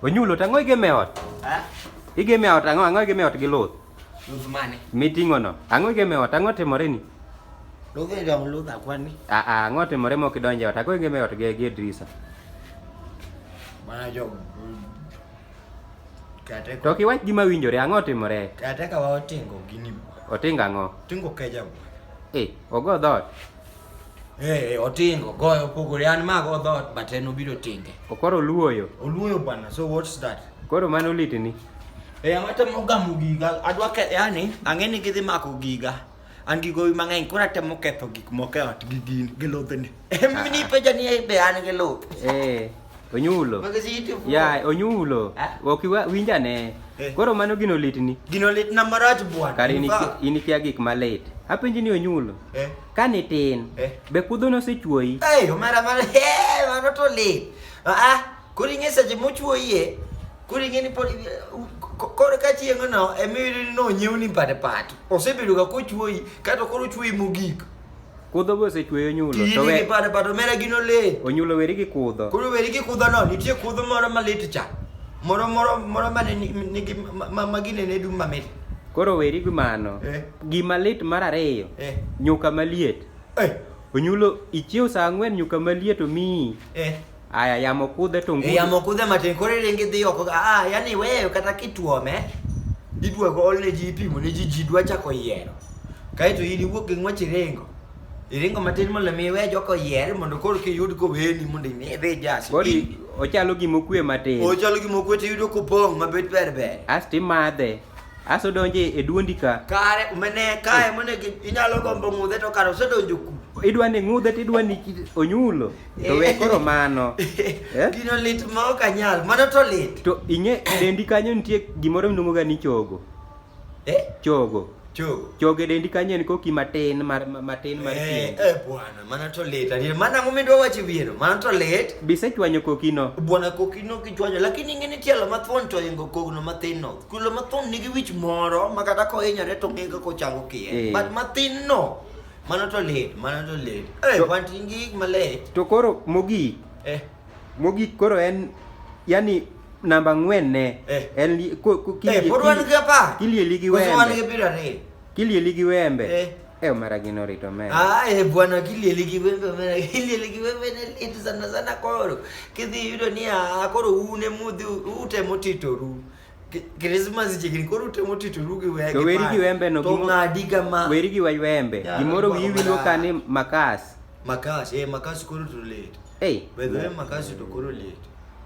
Onyulo to ang'o igeme ot? Igeme ot ang'o ang'o igeme ot gi luth? Luth mane? Miting'o no. Ang'o igeme ot ang'o timore ni? Luth dong luth akwani. Ah ah ang'o timore mok idonje ot ang'o igeme ot gi gi Idrisa? Mana jo Kate To kiwach gima winjore ang'o timore? Kate ka waotingo gini. Otingo ang'o? Tingo keja. Eh, ogo dhot. Hey, otingo goyo opogore an mago dhoot but en obiro tinge. Okoro oluoyo. Oluoyo bwana. So what's that? Koro mano litini. Eh, ang'ata mogamo giga. Adwa ke yani ang'e ni gidhi mako giga. An gi gowi mang'eny koro atemo ketho gik moko e ot gi gin gi lobene. Em ni peja ni be an gi lob. Eh. Onyulo. Ya, onyulo. Eh? Ok winja ne. Eh. Koro mano gino litni. Gino litna marach bwana. Kare inikia gik malit. Apenji ni onyulo. Eh. Kani tin, eh. be kudho nosechuoyi? Hey, omera mara, hey, mano to lit. Ah, ah koro ing'e seche mochuoyie, koro ing'e ni pod koro ka chieng' no emiyudo ni nonyiew ni pate pat. Osebedo ga kochuoyi, kato koro ochuoyi mogik. Kudho be osechuoyo nyulo. To we pate pat omera gino lit. Onyulo weri gi kudho. Koro weri gi kudho no, nitie kudho moro malit cha. Moro moro moro mane nigi ma, ma, ma gine ne dum mamit. Koro weri gi mano. Eh. Gima lit mar ariyo. Eh. Nyuka maliet. Eh. Onyulo ichiew saa ang'wen nyuka maliet omiyi. Eh. Aya yamo kudhe to ngudhe. Yamo kudhe matin koro iringi dhi oko. Ah, yani wewe kata kituome. Idwa go olne ji ipimo ne ji ji dwa chako yiero. Kaito in iwuok gi ng'wech iringo. Iringo matin mondo mi we joko yier mondo koro kiyud ko weni mondo ne dhi jasi. Koro ochalo gima okwe matin. Ochalo gima okwe to iyudo kopong' mabet ber ber. Asti madhe. Aso donje e duondi ka. Kare umene kae mone inyalo gombo ng'udhe to kare osedonjo ku. Idwa ni ng'udhe to idwa ni onyulo. To we koro mano. Eh? Gino lit ma ok anyal, mano to lit. To ing'e dendi kanyo nitie gimoro miluongo ga ni chogo. Eh? Chogo. Chogo. Chogo e dendi kanyo en koki matin mar matin mar eh, pien. Eh, bwana. Mano to lit adier. Mano ang'o midwa wacho wiero? Mano to lit. Bise chwanyo kokino. Bwana kokino kichwanyo lakini ing'e ni tielo mathuon to ingo kogno mathin no. Kulo mathuon nigi wich moro ma kata kohinyore to ng'e kaka ochango kiye. Eh. But mathin no. Mano to lit. Mano to lit. Eh, To- wan tin gi gik malit. To koro mogik, Eh, mogik koro en yani namba ng'wen ne. Eh. En li- ko- ko- eh, kilie- pod wan gi apar. kilieli gi Koso wan gi wembe. piero ariyo. Kilieli gi wembe. Eh. Eh, Omera gino rito me. Ah, eh, bwana kilieli gi wembe omera kilieli gi wembe ne lit sana sana koro. Kidhi yudo ni ah, koro une mudhi utemo titoru. Krismas chiegni koro utemo titoru gi wembe. To weri gi wembe no gimo. To ng'adi kama. Weri gi wembe. Gimoro wiyi winjo ka ni makas. Makas, eh makas koro to lit. Eh. Bedhe makas to koro lit.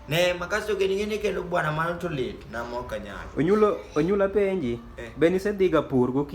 Ne makasi ogeni ngene kendo bwana mano to lit na mo kanyalo. Onyulo onyula penji. Eh. Be nisedhiga pur gokinyi?